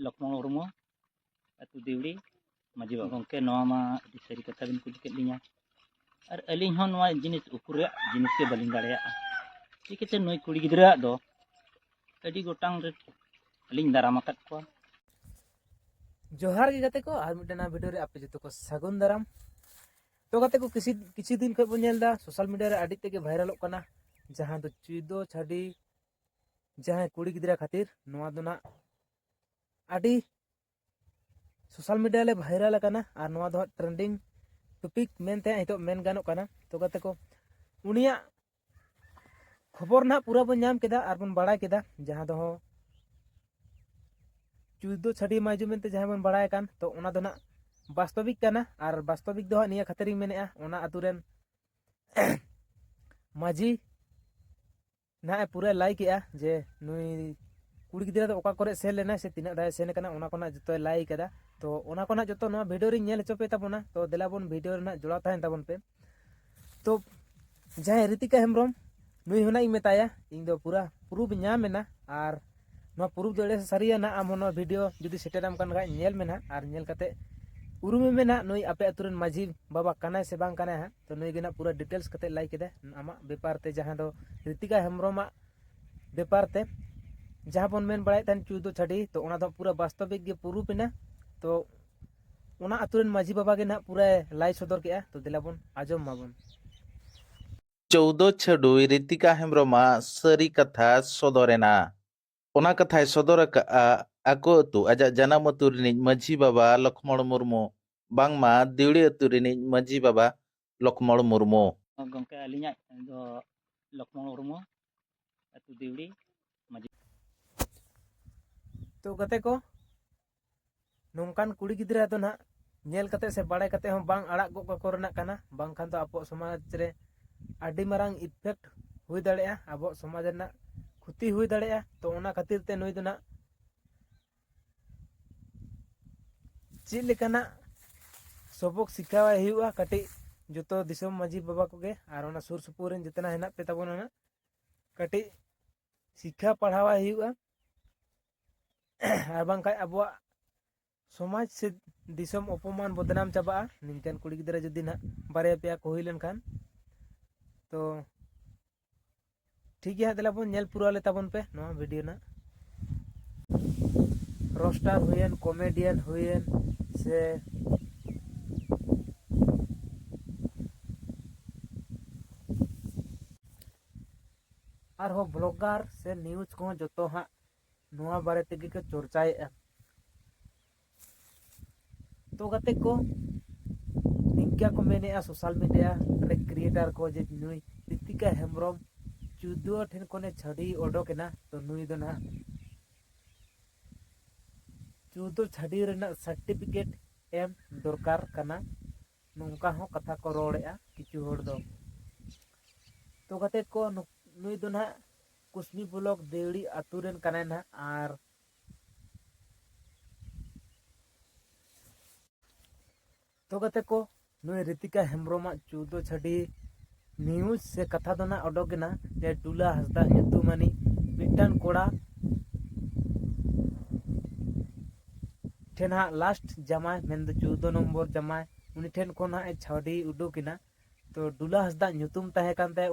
ᱞᱚᱠᱷᱢᱚ ᱢᱩᱨᱢᱩ ᱟᱹᱛᱩ ᱫᱤᱣᱲᱤ ᱢᱟᱹᱡᱷᱤ ᱵᱟᱵᱟ ᱜᱚᱢᱠᱮ ᱱᱚᱣᱟ ᱢᱟ ᱟᱹᱰᱤ ᱥᱟᱹᱨᱤ ᱠᱟᱛᱷᱟ ᱵᱤᱱ ᱠᱩᱞᱤ ᱠᱮᱫ ᱞᱤᱧᱟ ᱟᱨ ᱟᱹᱞᱤᱧ ᱦᱚᱸ ᱱᱚᱣᱟ ᱡᱤᱱᱤᱥ ᱩᱠᱩᱨ ᱨᱮᱭᱟᱜ ᱡᱤᱱᱤᱥ ᱜᱮ ᱵᱟᱹᱞᱤᱧ ᱫᱟᱲᱮᱭᱟᱜᱼᱟ ᱪᱤᱠᱟᱹᱛᱮ ᱱᱩᱭ ᱠᱩᱲᱤ ᱜᱤᱫᱽᱨᱟᱹᱣᱟᱜ ᱫᱚ ᱟᱹᱰᱤ ᱜᱚᱴᱟᱝ ᱨᱮ ᱟᱹᱞᱤᱧ ᱫᱟᱨᱟᱢ ᱟᱠᱟᱫ ᱠᱚᱣᱟ ᱡᱚᱦᱟᱨ ᱜᱮ ᱜᱟᱛᱮ ᱠᱚ ᱟᱨ ᱢᱤᱫᱴᱮᱱ ᱱᱟᱣᱟ ᱵᱷᱤᱰᱤᱭᱳ ᱨᱮ ᱟᱯᱮ ᱡᱚᱛᱚ ᱠᱚ ᱥᱟᱹᱜᱩᱱ ᱫᱟᱨᱟᱢ ᱛᱚ ᱜᱟᱛᱮ ᱠᱚ ᱠᱤᱪᱷᱩ ᱠᱤᱪᱷᱩ ᱫᱤᱱ ᱠᱷᱚᱱ ᱵᱚᱱ ᱧᱮᱞ ᱮᱫᱟ ᱥᱳᱥᱟᱞ ᱢᱤᱰᱤᱭᱟ ᱨᱮ ᱟᱹᱰᱤ ᱛᱮᱜᱮ ᱵᱷᱟᱭᱨᱟᱞᱚᱜ ᱠᱟᱱᱟ ᱡᱟᱦᱟᱸ ᱫᱚ ᱪᱩᱭᱫᱚ ᱪᱷᱟᱹᱰᱤ ᱡᱟᱦᱟᱸᱭ ᱠᱩᱲᱤ ᱜᱤᱫᱽᱨᱟᱹ ᱠᱷᱟᱹᱛᱤᱨ ᱱᱚᱣᱟ ᱫᱚ ᱱᱟᱜ ᱟᱹᱰᱤ ᱥᱳᱥᱟᱞ ᱢᱤᱰᱤᱭᱟ ᱨᱮ ᱵᱷᱟᱭᱨᱟᱞ ᱟᱠᱟᱱᱟ ᱟᱨ ᱱᱚᱣᱟ ᱫᱚ ᱦᱟᱸᱜ ᱴᱨᱮᱱᱰᱤᱝ ᱴᱚᱯᱤᱠ ᱢᱮᱱᱛᱮ ᱱᱤᱛᱚᱜ ᱢᱮᱱ ᱜᱟᱱᱚᱜ ᱠᱟᱱᱟ ᱛᱚ ᱜᱟᱛᱮ ᱠᱚ ᱩᱱᱤᱭᱟᱜ ᱠᱷᱚᱵᱚᱨ ᱱᱟᱜ ᱯᱩᱨᱟᱹ ᱵᱚᱱ ᱧᱟᱢ ᱠᱮᱫᱟ ᱟᱨ ᱵᱚᱱ ᱵᱟᱲᱟᱭ ᱠᱮᱫᱟ ᱡᱟᱦᱟᱸ ᱫᱚ ᱪᱩᱭᱫᱚ ᱪᱷᱟᱹᱰᱤ ᱢᱟᱭᱡᱩ ᱢᱮᱱᱛᱮ ᱡᱟᱦᱟᱸ ᱵᱚᱱ ᱵᱟᱲᱟᱭ ᱠᱟᱱ ᱛᱚ ᱚᱱᱟ ᱫᱚ ᱱᱟᱜ ᱵᱟᱥᱛᱚᱵᱤᱠ ᱠᱟᱱᱟ ᱟᱨ ᱵᱟᱥᱛᱚᱵᱤᱠ ᱫᱚ ᱦᱟᱸᱜ ᱱᱤᱭᱟᱹ ᱠᱷᱟᱹᱛᱤᱨᱤᱧ ᱢᱮᱱᱮᱫᱼᱟ ᱚᱱᱟ ᱟᱛᱳ ᱨᱮᱱ ᱢᱟᱹᱡᱷᱤ ᱱᱟᱦᱟᱜ ᱮ ᱯᱩᱨᱟᱹ ᱞᱟᱭ ᱠᱮᱫᱼᱟ ᱡᱮ ᱱᱩᱭ ᱠᱩᱲᱤ ᱜᱤᱫᱽᱨᱟᱹ ᱫᱚ ᱚᱠᱟ ᱠᱚᱨᱮ ᱥᱮᱱ ᱞᱮᱱᱟᱭ ᱥᱮ ᱛᱤᱱᱟᱹᱜ ᱫᱷᱟᱣ ᱥᱮᱱ ᱠᱟᱱᱟ ᱚᱱᱟ ᱠᱚᱨᱮᱱᱟᱜ ᱡᱚᱛᱚᱭ ᱞᱟᱭ ᱠᱟᱫᱟ ᱛᱚ ᱚᱱᱟ ᱠᱚᱨᱮᱱᱟᱜ ᱡᱚᱛᱚ ᱱᱚᱣᱟ ᱵᱷᱤᱰᱤᱭᱳ ᱨᱤᱧ ᱧᱮᱞ ᱦᱚᱪᱚ ᱯᱮ ᱛᱟᱵᱚᱱᱟ ᱛᱚ ᱫᱮᱞᱟ ᱵᱚᱱ ᱵᱷᱤᱰᱤᱭᱳ ᱨᱮᱱᱟᱜ ᱡᱚᱲᱟᱣ ᱛᱟᱦᱮᱱ ᱛᱟᱵᱚᱱ ᱯᱮ ᱛᱚ ᱡᱟᱦᱟᱸᱭ ᱨᱤᱛᱤᱠᱟ ᱦᱮᱢᱵᱨᱚᱢ ᱱᱩᱭ ᱦᱚᱸ ᱤᱧ ᱢᱮᱛᱟᱭᱟ ᱤᱧ ᱫᱚ ᱯᱩᱨᱟ ᱯᱨᱩᱯᱷ ᱧᱟᱢ ᱮᱱᱟ ᱟᱨ ᱱᱚᱣᱟ ᱯᱨᱩᱯᱷ ᱫᱚ ᱮᱲᱮ ᱥᱟᱹᱨᱤᱭᱟ ᱱᱟᱜ ᱟᱢ ᱱᱚᱣᱟ ᱵᱷᱤᱰᱤᱭᱳ ᱡᱩᱫᱤ ᱥᱮᱴᱮᱨᱟᱢ ᱠᱟᱱ ᱠᱷᱟᱡ ᱧᱮᱞ ᱢᱮ ᱱᱟᱜ ᱟᱨ ᱧᱮᱞ ᱠᱟᱛᱮ ᱩᱨᱩᱢᱮ ᱢᱮ ᱱᱟᱜ ᱱᱩᱭ ᱟᱯᱮ ᱟᱛᱳ ᱨᱮᱱ ᱢᱟᱹᱡᱷᱤ ᱵᱟᱵᱟ ᱠᱟᱱᱟᱭ ᱥᱮ ᱵᱟᱝ ᱠᱟᱱᱟᱭ ᱦᱟᱸᱜ ᱛᱚ ᱱᱩᱭ ᱜᱮ ᱱᱟᱜ ᱯᱩᱨᱟᱹ ᱰᱤᱴᱮᱞᱥ ᱠᱟᱛᱮ ᱞᱟᱹᱭ ᱠᱮᱫᱟ ᱟᱢᱟᱜ ᱵᱮᱯᱟᱨ ᱛᱮ ᱡᱟᱦᱟᱸ ᱫᱚ ᱨᱤᱛᱤᱠᱟ ᱦᱮᱢᱵᱨᱚᱢᱟᱜ ᱵᱮᱯᱟᱨ ᱛᱮ ᱡᱟᱦᱟᱸ ᱵᱚᱱ ᱢᱮᱱ ᱵᱟᱲᱟᱭᱮᱫ ᱛᱟᱦᱮᱱ ᱪᱩᱭᱫᱚ ᱪᱷᱟᱹᱰᱤ ᱛᱚ ᱚᱱᱟ ᱫᱚ ᱯᱩᱨᱟᱹ ᱵᱟᱥᱛᱚᱵᱤᱠ ᱜᱮ ᱯᱩᱨᱩᱯ ᱮᱱᱟ ᱛᱚ ᱚᱱᱟ ᱟᱛᱳ ᱨᱮᱱ ᱢᱟᱹᱡᱷᱤ ᱵᱟᱵᱟ ᱜᱮ ᱱᱟᱜ ᱯᱩᱨᱟᱹ ᱞᱟᱭ ᱥᱚᱫᱚᱨ ᱠᱮᱜᱼᱟ ᱛᱚ ᱫᱮᱞᱟ ᱵᱚᱱ ᱟᱸᱡᱚᱢ ᱢᱟᱵᱚᱱ ᱪᱳᱣᱫᱚ ᱪᱷᱟᱹᱰᱩᱭ ᱨᱤᱛᱤᱠᱟ ᱦᱮᱢᱵᱨᱚᱢᱟᱜ ᱥᱟᱹᱨᱤ ᱠᱟᱛᱷᱟ ᱥᱚᱫᱚᱨᱮᱱᱟ ᱚᱱᱟ ᱠᱟᱛᱷᱟᱭ ᱥᱚᱫᱚᱨ ᱟᱠᱟᱫᱼᱟ ᱟᱠᱚ ᱟᱹᱛᱩ ᱟᱡᱟᱜ ᱡᱟᱱᱟᱢ ᱟᱹᱛᱩ ᱨᱤᱱᱤᱡ ᱢᱟᱹᱡᱷᱤ ᱵᱟᱵᱟ ᱞᱚᱠᱷᱢᱚᱬ ᱢᱩᱨᱢᱩ ᱵᱟᱝᱢᱟ ᱫᱤᱣᱲᱤ ᱟᱹᱛᱩ ᱨᱤᱱᱤᱡ ᱢᱟᱹᱡᱷᱤ ᱵᱟᱵᱟ ᱞᱚᱠᱷᱢᱚᱬ ᱢᱩᱨᱢᱩ᱾ ᱜᱚᱢᱠᱮ ᱟᱹᱞᱤᱧᱟᱜ ᱫᱚ ᱞᱚᱠᱷᱢᱚᱬ ᱢᱩᱨᱢᱩ ᱟᱹᱛᱩ ᱫᱤᱣᱲᱤ ᱢᱟᱹᱡᱷᱤ᱾ ᱛᱚ ᱜᱟᱛᱮ ᱠᱚ ᱱᱚᱝᱠᱟᱱ ᱠᱩᱲᱤ ᱜᱤᱫᱽᱨᱟᱹ ᱫᱚ ᱱᱟᱦᱟᱜ ᱧᱮᱞ ᱠᱟᱛᱮ ᱥᱮ ᱵᱟᱲᱟᱭ ᱠᱟᱛᱮ ᱦᱚᱸ ᱵᱟᱝ ᱟᱲᱟᱜ ᱜᱚᱜ ᱠᱟᱠᱚ ᱨᱮᱱᱟᱜ ᱠᱟᱱᱟ ᱵᱟᱝᱠᱷᱟᱱ ᱫᱚ ᱟᱵᱚᱣᱟᱜ ᱥᱚᱢᱟᱡᱽ ᱨᱮ ᱟᱹᱰᱤ ᱢᱟᱨᱟᱝ ᱤᱯᱷᱮᱠᱴ ᱦᱩᱭ ᱫᱟᱲᱮᱭᱟᱜᱼᱟ ᱟᱵᱚᱣᱟᱜ ᱥᱚᱢᱟᱡᱽ ᱨᱮᱱᱟᱜ ᱠᱷᱚᱛᱤ ᱦᱩᱭ ᱫᱟᱲᱮᱭᱟᱜᱼᱟ ᱛᱚ ᱚᱱᱟ ᱠᱷᱟᱹᱛᱤᱨ ᱛᱮ ᱱᱩᱭ ᱫᱚ ᱱᱟᱦᱟᱜ ᱪᱮᱫ ᱞᱮᱠᱟᱱᱟᱜ ᱥᱚᱵᱚᱠ ᱥᱤᱠᱷᱟᱣᱟᱭ ᱦᱩᱭᱩᱜᱼᱟ ᱠᱟᱹᱴᱤᱡ ᱡᱚᱛᱚ ᱫᱤᱥᱚᱢ ᱢᱟᱺᱡᱷᱤ ᱵᱟᱵᱟ ᱠᱚᱜᱮ ᱟᱨ ᱚᱱᱟ ᱥᱩᱨ ᱥᱩᱯᱩᱨ ᱨᱮᱱ ᱡᱚᱛᱚᱱᱟᱜ ᱦᱮᱱᱟᱜ ᱯᱮ ᱛᱟᱵᱚᱱᱟ ᱱᱟᱜ ᱠᱟᱹᱴᱤᱡ ᱥᱤᱠᱷᱟ ᱯᱟᱲᱦᱟᱣᱟᱭ ᱦᱩᱭᱩᱜᱼᱟ ᱟᱨ ᱵᱟᱝᱠᱷᱟᱡ ᱟᱵᱚᱣᱟᱜ ᱥᱚᱢᱟᱡᱽ ᱥᱮ ᱫᱤᱥᱚᱢ ᱚᱯᱚᱢᱟᱱ ᱵᱚᱫᱱᱟᱢ ᱪᱟᱵᱟᱜᱼᱟ ᱱᱤᱝᱠᱟᱱ ᱠᱩᱲᱤ ᱜᱤᱫᱽᱨᱟᱹ ᱡᱩᱫᱤ ᱱᱟᱦᱟᱜ ᱵᱟᱨᱭᱟ ᱯᱮᱭᱟ ᱠᱚ ᱦᱩᱭ ᱞᱮᱱᱠᱷᱟᱱ ᱛᱚ ᱴᱷᱤᱠ ᱜᱮᱭᱟ ᱫᱮᱞᱟ ᱵᱚᱱ ᱧᱮᱞ ᱯᱩᱨᱟᱹᱣ ᱞᱮ ᱛᱟᱵᱚᱱ ᱯᱮ ᱱᱚᱣᱟ ᱵᱷᱤᱰᱤᱭᱳ ᱱᱟᱜ ᱨᱳᱥᱴᱟᱨ ᱦᱩᱭᱮᱱ ᱠᱚᱢᱮᱰᱤᱭᱟᱱ ᱦᱩᱭᱮᱱ ᱥᱮ ᱟᱨᱦᱚᱸ ᱵᱞᱚᱜᱟᱨ ᱥᱮ ᱱᱤᱭᱩᱡᱽ ᱠᱚᱦᱚᱸ ᱡᱚᱛᱚ ᱦᱟᱸᱜ ᱱᱚᱣᱟ ᱵᱟᱨᱮ ᱛᱮᱜᱮ ᱠᱚ ᱪᱚᱨᱪᱟᱭᱮᱫᱼᱟ ᱛᱚ ᱜᱟᱛᱮ ᱠᱚ ᱱᱤᱝᱠᱟ ᱠᱚ ᱢᱮᱱᱮᱫᱼᱟ ᱥᱳᱥᱟᱞ ᱢᱤᱰᱤᱭᱟ ᱨᱮ ᱠᱨᱤᱭᱮᱴᱟᱨ ᱠᱚ ᱡᱮ ᱱᱩᱭ ᱨᱤᱛᱤᱠᱟ ᱦᱮᱢᱵᱨᱚᱢ ᱪᱩᱫᱩ ᱴᱷᱮᱱ ᱠᱷᱚᱱᱮ ᱪᱷᱟᱹᱰᱤ ᱚᱰᱚᱠ ᱮᱱᱟ ᱛᱚ ᱱᱩᱭ ᱫᱚ ᱱᱟᱦᱟᱜ ᱪᱩᱫᱩ ᱪᱷᱟᱹᱰᱤ ᱨᱮᱱᱟᱜ ᱥᱟᱨᱴᱤᱯᱷᱤᱠᱮᱴ ᱮᱢ ᱫᱚᱨᱠᱟᱨ ᱠᱟᱱᱟ ᱱᱚᱝᱠᱟ ᱦᱚᱸ ᱠᱟᱛᱷᱟ ᱠᱚ ᱨᱚᱲᱮᱫᱼᱟ ᱠᱤᱪᱷᱩ ᱦᱚᱲ ᱫᱚ ᱛᱚ ᱜᱟᱛᱮ ᱠᱚ ᱱᱩᱭ ᱫᱚ ᱱᱟᱦᱟᱜ ᱠᱩᱥᱵᱤ ᱵᱞᱚᱠ ᱫᱮᱣᱲᱤ ᱟᱛᱳ ᱨᱮᱱ ᱠᱟᱱᱟᱭ ᱱᱟᱦᱟᱜ ᱟᱨ ᱛᱚ ᱜᱟᱛᱮ ᱠᱚ ᱱᱩᱭ ᱨᱤᱛᱤᱠᱟ ᱦᱮᱢᱵᱨᱚᱢᱟᱜ ᱪᱳᱫᱽᱫᱳ ᱪᱷᱟᱰᱤ ᱱᱤᱭᱩᱡᱽ ᱥᱮ ᱠᱟᱛᱷᱟ ᱫᱚ ᱱᱟᱜ ᱚᱰᱚᱠ ᱮᱱᱟ ᱡᱮ ᱰᱩᱞᱟ ᱦᱟᱸᱥᱫᱟ ᱧᱩᱛᱩᱢᱟᱱᱤᱡ ᱢᱤᱫᱴᱟᱝ ᱠᱚᱲᱟ ᱴᱷᱮᱱ ᱦᱟᱸᱜ ᱞᱟᱥᱴ ᱡᱟᱢᱟᱭ ᱢᱮᱱᱫᱚ ᱪᱳᱫᱽᱫᱳ ᱱᱚᱢᱵᱚᱨ ᱡᱟᱢᱟᱭ ᱩᱱᱤ ᱴᱷᱮᱱ ᱠᱷᱚᱱ ᱦᱟᱸᱜ ᱮ ᱪᱷᱟᱰᱤ ᱩᱰᱩᱠ ᱮᱱᱟ ᱛᱚ ᱰᱩᱞᱟ ᱦᱟᱸᱥᱫᱟ ᱧᱩᱛᱩᱢ ᱛᱟᱦᱮᱸ ᱠᱟᱱ ᱛᱟᱭᱟ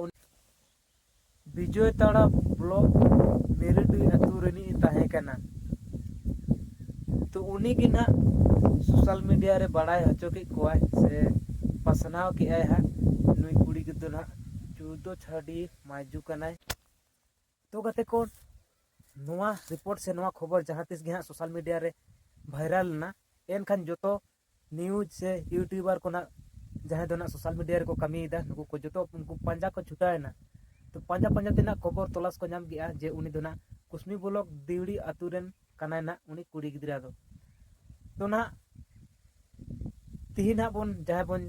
ᱵᱤᱡᱚᱭ ᱛᱟᱲᱟ ᱵᱞᱚᱠ ᱢᱮᱨᱮᱰᱤ ᱟᱹᱛᱩ ᱨᱤᱱᱤᱡ ᱮ ᱛᱟᱦᱮᱸ ᱠᱟᱱᱟ ᱛᱚ ᱩᱱᱤ ᱜᱮ ᱱᱟᱜ ᱥᱳᱥᱟᱞ ᱢᱤᱰᱤᱭᱟ ᱨᱮ ᱵᱟᱲᱟᱭ ᱦᱚᱪᱚ ᱠᱮᱫ ᱠᱚᱣᱟᱭ ᱥᱮ ᱯᱟᱥᱱᱟᱣ ᱠᱮᱫᱟᱭ ᱦᱟᱸᱜ ᱱᱩᱭ ᱠᱩᱲᱤ ᱜᱤᱫᱽᱨᱟᱹ ᱱᱟᱜ ᱪᱩᱫᱚ ᱪᱷᱟᱰᱤ ᱢᱟᱭᱡᱩ ᱠᱟᱱᱟᱭ ᱛᱚ ᱜᱟᱛᱮ ᱠᱚ ᱱᱚᱣᱟ ᱨᱤᱯᱳᱨᱴ ᱥᱮ ᱱᱚᱣᱟ ᱠᱷᱚᱵᱚᱨ ᱡᱟᱦᱟᱸ ᱛᱤᱥ ᱜᱮ ᱦᱟᱸᱜ ᱥᱳᱥᱟᱞ ᱢᱤᱰᱤᱭᱟ ᱨᱮ ᱵᱷᱟᱭᱨᱟᱞ ᱮᱱᱟ ᱮᱱᱠᱷᱟᱱ ᱡᱚᱛᱚ ᱱᱤᱭᱩᱡᱽ ᱥᱮ ᱤᱭᱩᱴᱤᱭᱩᱵᱟᱨ ᱠᱚ ᱱᱟᱜ ᱡᱟᱦᱟᱸᱭ ᱫᱚ ᱱᱟᱜ ᱥᱳᱥᱟᱞ ᱢᱤᱰᱤᱭᱟ ᱨᱮᱠᱚ ᱠᱟᱹᱢᱤᱭᱮᱫᱟ ᱱᱩᱠᱩ ᱠᱚ ᱡᱚᱛᱚ ᱩᱱᱠᱩ ᱯᱟᱸᱡᱟ ᱠᱚ ᱪᱷᱩᱴᱟᱹᱣᱮᱱᱟ ᱛᱚ ᱯᱟᱸᱡᱟ ᱯᱟᱸᱡᱟ ᱛᱮ ᱱᱟᱜ ᱠᱷᱚᱵᱚᱨ ᱛᱚᱞᱟᱥ ᱠᱚ ᱧᱟᱢ ᱠᱮᱜᱼᱟ ᱡᱮ ᱩᱱᱤ ᱫᱚ ᱱᱟᱜ ᱠᱩᱥᱢᱤ ᱵᱞᱚᱠ ᱫᱤᱣᱲᱤ ᱟᱛᱳ ᱨᱮᱱ ᱠᱟᱱᱟᱭ ᱱᱟᱜ ᱩᱱᱤ ᱠᱩᱲᱤ ᱜᱤᱫᱽᱨᱟᱹ ᱫᱚ ᱛᱚ ᱱᱟᱜ ᱛᱤᱦᱤᱧ ᱱᱟᱜ ᱵᱚᱱ ᱡᱟᱦᱟᱸᱭ ᱵᱚᱱ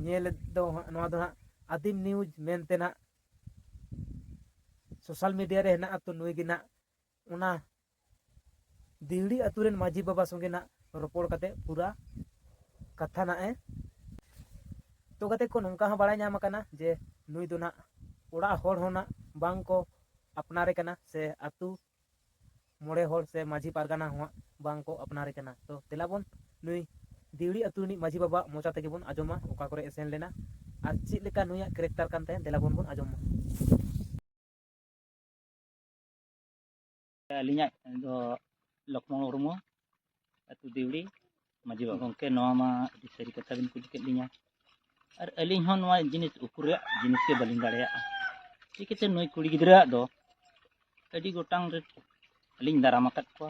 ᱧᱮᱞ ᱫᱚ ᱱᱚᱣᱟ ᱫᱚ ᱱᱟᱜ ᱟᱫᱤᱢ ᱱᱤᱭᱩᱡᱽ ᱢᱮᱱᱛᱮ ᱱᱟᱜ ᱥᱳᱥᱟᱞ ᱢᱤᱰᱤᱭᱟ ᱨᱮ ᱦᱮᱱᱟᱜᱼᱟ ᱛᱚ ᱱᱩᱭ ᱜᱮ ᱱᱟᱜ ᱚᱱᱟ ᱫᱤᱦᱲᱤ ᱟᱛᱳ ᱨᱮᱱ ᱢᱟᱹᱡᱷᱤ ᱵᱟᱵᱟ ᱥᱚᱸᱜᱮ ᱱᱟᱜ ᱨᱚᱯᱚᱲ ᱠᱟᱛᱮ ᱯᱩᱨᱟ ᱠᱟᱛᱷᱟ ᱱᱟᱜ ᱮ ᱛᱚ ᱠᱟᱛᱮ ᱠᱚ ᱱᱚᱝᱠᱟ ᱦᱚᱸ ᱵᱟᱲᱟᱭ ᱧᱟᱢ ᱟᱠᱟᱱᱟ ᱡᱮ ᱱᱩᱭ ᱫᱚ ᱱᱟᱜ ᱚᱲᱟᱜ ᱦᱚᱲ ᱦᱚᱸ ᱱᱟᱜ ᱵᱟᱝ ᱠᱚ ᱟᱯᱱᱟᱨᱮ ᱠᱟᱱᱟ ᱥᱮ ᱟᱛᱳ ᱢᱚᱬᱮ ᱦᱚᱲ ᱥᱮ ᱢᱟᱹᱡᱷᱤ ᱯᱟᱨᱜᱟᱱᱟ ᱦᱚᱸ ᱵᱟᱝ ᱠᱚ ᱟᱯᱱᱟᱨᱮ ᱠᱟᱱᱟ ᱛᱚ ᱛᱮᱞᱟ ᱵᱚᱱ ᱱᱩᱭ ᱫᱤᱣᱲᱤ ᱟᱛᱳ ᱨᱤᱱᱤᱡ ᱢᱟᱹᱡᱷᱤ ᱵᱟᱵᱟ ᱢᱚᱪᱟ ᱛᱮᱜᱮ ᱵᱚᱱ ᱟᱸᱡᱚᱢᱟ ᱚᱠᱟ ᱠᱚᱨᱮ ᱮ ᱥᱮᱱ ᱞᱮᱱᱟ ᱟᱨ ᱪᱮᱫ ᱞᱮᱠᱟ ᱱᱩᱭᱟᱜ ᱠᱮᱨᱮᱠᱴᱟᱨ ᱠᱟᱱ ᱛᱟᱭᱟ ᱫᱮᱞᱟ ᱵᱚᱱ ᱵᱚᱱ ᱟᱸᱡᱚᱢ ᱢᱟ ᱟᱹᱞᱤᱧᱟᱜ ᱫᱚ ᱞᱚᱠᱷᱢᱚ ᱢᱩᱨᱢᱩ ᱟᱹᱛᱩ ᱫᱤᱣᱲᱤ ᱢᱟᱹᱡᱷᱤ ᱵᱟᱵᱟ ᱜᱚᱢᱠᱮ ᱱᱚᱣᱟ ᱢᱟ ᱟᱹᱰᱤ ᱥᱟᱹᱨᱤ ᱠᱟᱛᱷᱟ ᱵᱤᱱ ᱠᱩᱞᱤ ᱠᱮᱫ ᱞᱤᱧᱟ ᱟᱨ ᱟᱹᱞᱤᱧ ᱦᱚᱸ ᱱᱚᱣᱟ ᱡᱤᱱᱤᱥ ᱩᱠᱩ ᱨᱮᱭᱟᱜ ᱡᱤᱱᱤᱥ ᱜᱮ ᱵᱟᱹᱞᱤᱧ ᱫᱟᱲᱮᱭᱟᱜᱼᱟ ᱪᱤᱠᱟᱹᱛᱮ ᱱᱩᱭ ᱠᱩᱲᱤ ᱜᱤᱫᱽᱨᱟᱹᱣᱟᱜ ᱫᱚ ᱟᱹᱰᱤ ᱜᱚᱴᱟᱝ ᱨᱮ ᱟᱹᱞᱤᱧ ᱫᱟᱨᱟᱢ ᱟᱠᱟᱫ ᱠᱚᱣᱟ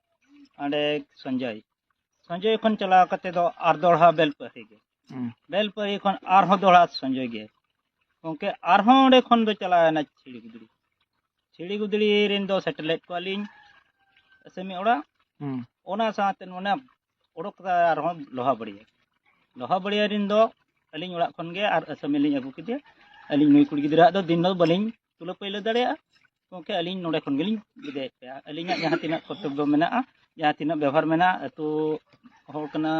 ᱚᱸᱰᱮ ᱥᱚᱧᱡᱚᱭ ᱥᱚᱧᱡᱚᱭ ᱠᱷᱚᱱ ᱪᱟᱞᱟᱣ ᱠᱟᱛᱮ ᱫᱚ ᱟᱨ ᱫᱚᱲᱦᱟ ᱵᱮᱞᱯᱟᱹᱦᱤ ᱜᱮ ᱦᱩᱸ᱾ ᱵᱮᱞᱯᱟᱹᱦᱤ ᱠᱷᱚᱱ ᱟᱨᱦᱚᱸ ᱫᱚᱲᱦᱟ ᱥᱚᱧᱡᱚᱭ ᱜᱮ ᱜᱚᱢᱠᱮ ᱟᱨᱦᱚᱸ ᱚᱸᱰᱮ ᱠᱷᱚᱱ ᱫᱚ ᱪᱟᱞᱟᱣᱮᱱᱟ ᱪᱷᱤᱲᱤ ᱜᱩᱫᱽᱲᱤ ᱪᱷᱤᱲᱤ ᱜᱩᱫᱽᱲᱤ ᱨᱮᱱ ᱫᱚ ᱥᱮᱴᱮᱨ ᱞᱮᱫ ᱠᱚᱣᱟᱞᱤᱧ ᱟᱥᱟᱢᱤ ᱚᱲᱟᱜ ᱦᱩᱸ᱾ ᱚᱱᱟ ᱥᱟᱶᱛᱮ ᱚᱱᱟ ᱚᱰᱚᱠ ᱠᱟᱛᱮ ᱟᱨᱦᱚᱸ ᱞᱚᱦᱟ ᱵᱟᱹᱲᱤᱭᱟᱹ ᱞᱚᱦᱟ ᱵᱟᱹᱲᱤᱭᱟᱹ ᱨᱮᱱ ᱫᱚ ᱟᱹᱞᱤᱧ ᱚᱲᱟᱜ ᱠᱷᱚᱱ ᱜᱮ ᱟᱨ ᱟᱥᱟᱢᱤ ᱞᱤᱧ ᱟᱹᱜᱩ ᱠᱮᱫᱮᱭᱟ ᱟᱹᱞᱤᱧ ᱱᱩᱭ ᱠᱩᱲᱤ ᱜᱤᱫᱽᱨᱟᱹᱣᱟᱜ ᱫᱚ ᱫᱤᱱ ᱫᱚ ᱵᱟᱹᱞᱤᱧ ᱛᱩᱞᱟᱹ ᱯᱟᱹᱭᱞᱟᱹ ᱫᱟᱲᱮᱭᱟᱜᱼᱟ ᱜᱚᱢᱠᱮ ᱟᱹᱞᱤᱧ ᱱᱚᱰᱮ ᱠᱷᱚᱱ ᱜᱮᱞᱤᱧ ᱵᱤᱫᱟᱹᱭᱮᱫ ᱯᱮᱭᱟ ᱟᱹᱞᱤᱧᱟᱜ ᱡᱟᱦᱟᱸ ᱛᱤᱱᱟᱹᱜ ᱠᱚᱨᱛᱚᱵᱽᱵᱚ ᱢᱮᱱᱟᱜᱼᱟ ᱡᱟᱦᱟᱸ ᱛᱤᱱᱟᱹᱜ ᱵᱮᱵᱚᱦᱟᱨ ᱢᱮᱱᱟᱜᱼᱟ ᱟᱹᱛᱩ ᱦᱚᱲ ᱠᱟᱱᱟ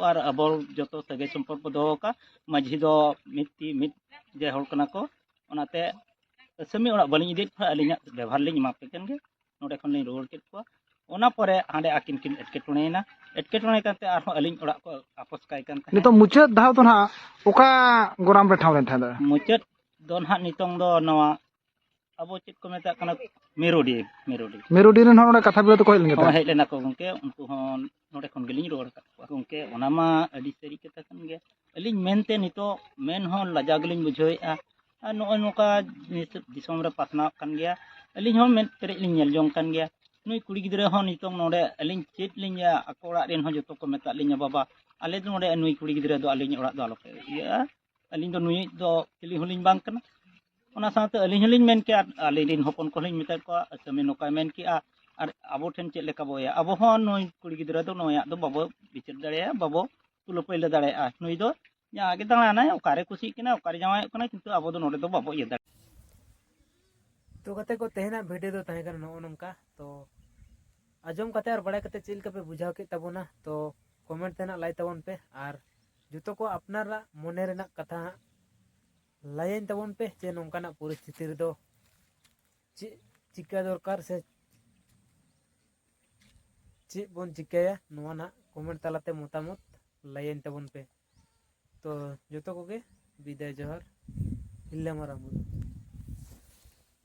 ᱟᱨ ᱟᱵᱚ ᱡᱚᱛᱚ ᱥᱟᱹᱜᱟᱹᱭ ᱥᱚᱢᱯᱚᱨᱠ ᱵᱚ ᱫᱚᱦᱚ ᱟᱠᱟᱫ ᱢᱟᱹᱡᱷᱤ ᱫᱚ ᱢᱤᱫ ᱛᱤ ᱢᱤᱫ ᱡᱮ ᱦᱚᱲ ᱠᱟᱱᱟ ᱠᱚ ᱚᱱᱟᱛᱮ ᱟᱹᱥᱟᱹᱢᱤ ᱚᱲᱟᱜ ᱵᱟᱹᱞᱤᱧ ᱤᱫᱤᱭᱮᱫ ᱠᱚᱣᱟ ᱟᱹᱞᱤᱧᱟᱜ ᱵᱮᱵᱚᱦᱟᱨ ᱞᱤᱧ ᱮᱢᱟ ᱯᱮ ᱠᱟᱱ ᱜᱮ ᱱᱚᱰᱮ ᱠᱷᱚᱱ ᱞᱤᱧ ᱨᱩᱣᱟᱹᱲ ᱠᱮᱫ ᱠᱚᱣᱟ ᱚᱱᱟ ᱯᱚᱨᱮ ᱦᱟᱸᱰᱮ ᱟᱹᱠᱤᱱ ᱠᱤᱱ ᱮᱴᱠᱮᱴᱚᱬᱮᱭᱮᱱᱟ ᱮᱴᱠᱮᱴᱚᱬᱮ ᱠᱟᱛᱮ ᱟᱨᱦᱚᱸ ᱟᱹᱞᱤᱧ ᱚᱲᱟᱜ ᱠᱚ ᱟᱯᱚᱥ ᱠᱟᱭ ᱠᱟᱱ ᱛᱟᱦᱮᱸᱫ ᱱᱤᱛᱚᱜ ᱢᱩᱪᱟᱹᱫ ᱫᱷᱟᱣ ᱫᱚ ᱱᱟᱦᱟᱜ ᱚᱠᱟ ᱜᱚᱨᱟᱢ ᱨᱮ ᱴᱷᱟᱶ ᱞᱮᱱ ᱛᱟᱦᱮᱸᱫ ᱢᱩᱪᱟᱹᱫ ᱫᱚ ᱱᱟᱦᱟᱜ ᱱᱤᱛᱚᱝ ᱫᱚ ᱱᱚᱣᱟ ᱟᱵᱚ ᱪᱮᱫ ᱠᱚ ᱢᱮᱛᱟᱜ ᱠᱟᱱᱟ ᱢᱮᱨᱩᱰᱤ ᱢᱮᱨᱩᱰᱤ ᱢᱮᱨᱩᱰᱤ ᱨᱮᱱ ᱦᱚᱲ ᱚᱸᱰᱮ ᱠᱟᱛᱷᱟ ᱵᱤᱞᱟᱹ ᱛᱮᱠᱚ ᱦᱮᱡ ᱞᱮᱱ ᱜᱮ ᱦᱮᱡ ᱞᱮᱱᱟ ᱠᱚ ᱜᱚᱝᱠᱮ ᱩᱱᱠᱩ ᱦᱚᱸ ᱱᱚᱰᱮ ᱠᱷᱚᱱ ᱜᱮᱞᱤᱧ ᱨᱚᱲ ᱟᱠᱟᱫ ᱠᱚᱣᱟ ᱜᱚᱢᱠᱮ ᱚᱱᱟ ᱢᱟ ᱟᱹᱰᱤ ᱥᱟᱹᱨᱤ ᱠᱟᱛᱷᱟ ᱠᱟᱱ ᱜᱮᱭᱟ ᱟᱹᱞᱤᱧ ᱢᱮᱱᱛᱮ ᱱᱤᱛᱚᱜ ᱢᱮᱱ ᱦᱚᱸ ᱞᱟᱡᱟᱣ ᱜᱮᱞᱤᱧ ᱵᱩᱡᱷᱟᱹᱣᱮᱫᱼᱟ ᱟᱨ ᱱᱚᱜᱼᱚᱭ ᱱᱚᱝᱠᱟ ᱫᱤᱥᱚᱢ ᱨᱮ ᱯᱟᱥᱱᱟᱣᱚᱜ ᱠᱟᱱ ᱜᱮᱭᱟ ᱟᱹᱞᱤᱧ ᱦᱚᱸ ᱢᱮᱫ ᱯᱮᱨᱮᱡ ᱞᱤᱧ ᱧᱮᱞ ᱡᱚᱝ ᱠᱟᱱ ᱜᱮᱭᱟ ᱱᱩᱭ ᱠᱩᱲᱤ ᱜᱤᱫᱽᱨᱟᱹ ᱦᱚᱸ ᱱᱤᱛᱚᱜ ᱱᱚᱰᱮ ᱟᱹᱞᱤᱧ ᱪᱮᱫ ᱞᱤᱧ ᱟᱠᱚ ᱚᱲᱟᱜ ᱨᱮᱱ ᱦᱚᱸ ᱡᱚᱛᱚ ᱠᱚ ᱢᱮᱛᱟᱫ ᱞᱤᱧᱟ ᱵᱟᱵᱟ ᱟᱞᱮ ᱫᱚ ᱱᱚᱰᱮ ᱱᱩᱭ ᱠᱩᱲᱤ ᱜᱤᱫᱽᱨᱟᱹ ᱫᱚ ᱟᱹᱞᱤᱧ ᱚᱲᱟᱜ ᱫᱚ ᱟᱞᱚᱯᱮ ᱤᱭᱟᱹᱜᱼᱟ ᱟᱹᱞᱤᱧ ᱫᱚ ᱱᱩᱭᱤᱡ ᱫᱚ ᱪᱤᱞᱤ ᱦᱚᱸᱞᱤᱧ ᱵᱟᱝ ᱠᱟᱱᱟ ᱚᱱᱟ ᱥᱟᱶᱛᱮ ᱟᱹᱞᱤᱧ ᱦᱚᱸᱞᱤᱧ ᱢᱮᱱ ᱠᱮᱜᱼᱟ ᱟᱹᱞᱤᱧ ᱨᱮᱱ ᱦᱚᱯᱚᱱ ᱠᱚᱦᱚᱸ ᱞᱤᱧ ᱢᱮᱛᱟᱫ ᱠᱚᱣᱟ ᱠᱟᱹᱢᱤ ᱱᱚᱝᱠᱟᱭ ᱢᱮᱱ ᱠᱮᱜᱼᱟ ᱟᱨ ᱟᱵᱚ ᱴᱷᱮᱱ ᱪᱮᱫ ᱞᱮᱠᱟ ᱵᱚ ᱤᱭᱟᱹ ᱟᱵᱚ ᱦᱚᱸ ᱱᱩᱭ ᱠᱩᱲᱤ ᱜᱤᱫᱽᱨᱟᱹ ᱫᱚ ᱱᱩᱭᱟᱜ ᱫᱚ ᱵᱟᱵᱚ ᱵᱤᱪᱟᱹᱨ ᱫᱟᱲᱮᱭᱟᱜᱼᱟ ᱵᱟᱵᱚ ᱛᱩᱞᱟᱹ ᱯᱟᱹᱭᱞᱟᱹ ᱫᱟᱲᱮᱭᱟᱜᱼᱟ ᱱᱩᱭ ᱫᱚ ᱡᱟᱦᱟᱸ ᱜᱮ ᱫᱟᱬᱟᱱᱟᱭ ᱚᱠᱟᱨᱮ ᱠᱩᱥᱤᱜ ᱠᱟᱱᱟ ᱚᱠᱟᱨᱮ ᱡᱟᱶᱟᱭᱚᱜ ᱠᱟᱱᱟ ᱠᱤᱱᱛᱩ ᱟᱵᱚ ᱫᱚ ᱱᱚᱰᱮ ᱫᱚ ᱵᱟᱵᱚ ᱤᱭᱟᱹ ᱫᱟᱲᱮᱭᱟᱜᱼᱟ ᱛᱚ ᱜᱟᱛᱮ ᱠᱚ ᱛᱮᱦᱮᱧᱟᱜ ᱵᱷᱤᱰᱤᱭᱳ ᱫᱚ ᱛᱟᱦᱮᱸ ᱠᱟᱱᱟ ᱱᱚᱜᱼᱚ ᱱᱚᱝᱠᱟ ᱛᱚ ᱟᱸᱡᱚᱢ ᱠᱟᱛᱮ ᱟᱨ ᱵᱟᱲᱟᱭ ᱠᱟᱛᱮ ᱪᱮᱫ ᱞᱮᱠᱟ ᱯᱮ ᱵᱩᱡᱷᱟᱹᱣ ᱠᱮᱫ ᱛᱟᱵᱚᱱᱟ ᱛᱚ ᱠᱚᱢᱮᱱᱴ ᱛᱮ ᱱᱟᱜ ᱞᱟᱹᱭ ᱛᱟᱵᱚᱱ ᱯᱮ ᱟᱨ ᱡᱚᱛᱚ ᱠᱚ ᱟᱯᱱᱟᱨᱟᱜ ᱢᱚᱱᱮ ᱨᱮᱱᱟᱜ ᱠᱟᱛᱷᱟ ᱦᱟᱸᱜ ᱞᱟᱹᱭᱟᱹᱧ ᱛᱟᱵᱚᱱ ᱯᱮ ᱡᱮ ᱱᱚᱝᱠᱟᱱᱟᱜ ᱯᱚᱨᱤᱥᱛᱷᱤᱛᱤ ᱨᱮᱫᱚ ᱪᱮᱫ ᱪᱤᱠᱟᱹ ᱫᱚᱨᱠᱟᱨ ᱥᱮ ᱪᱮᱫ ᱵᱚᱱ ᱪᱤᱠᱟᱹᱭᱟ ᱱᱚᱣᱟ ᱱᱟᱜ ᱠᱚᱢᱮᱱᱴ ᱛᱟᱞᱟᱛᱮ ᱢᱚᱛᱟᱢᱚᱛ ᱞᱟᱹᱭᱟᱹᱧ ᱛᱟᱵᱚᱱ ᱯᱮ ᱛᱚ ᱡᱚᱛᱚ ᱠᱚᱜᱮ ᱵᱤᱫᱟᱭ ᱡᱚᱦᱟᱨ ᱦᱤᱞᱞᱟᱹ ᱢᱟᱨᱟᱝ ᱵᱩᱨᱩ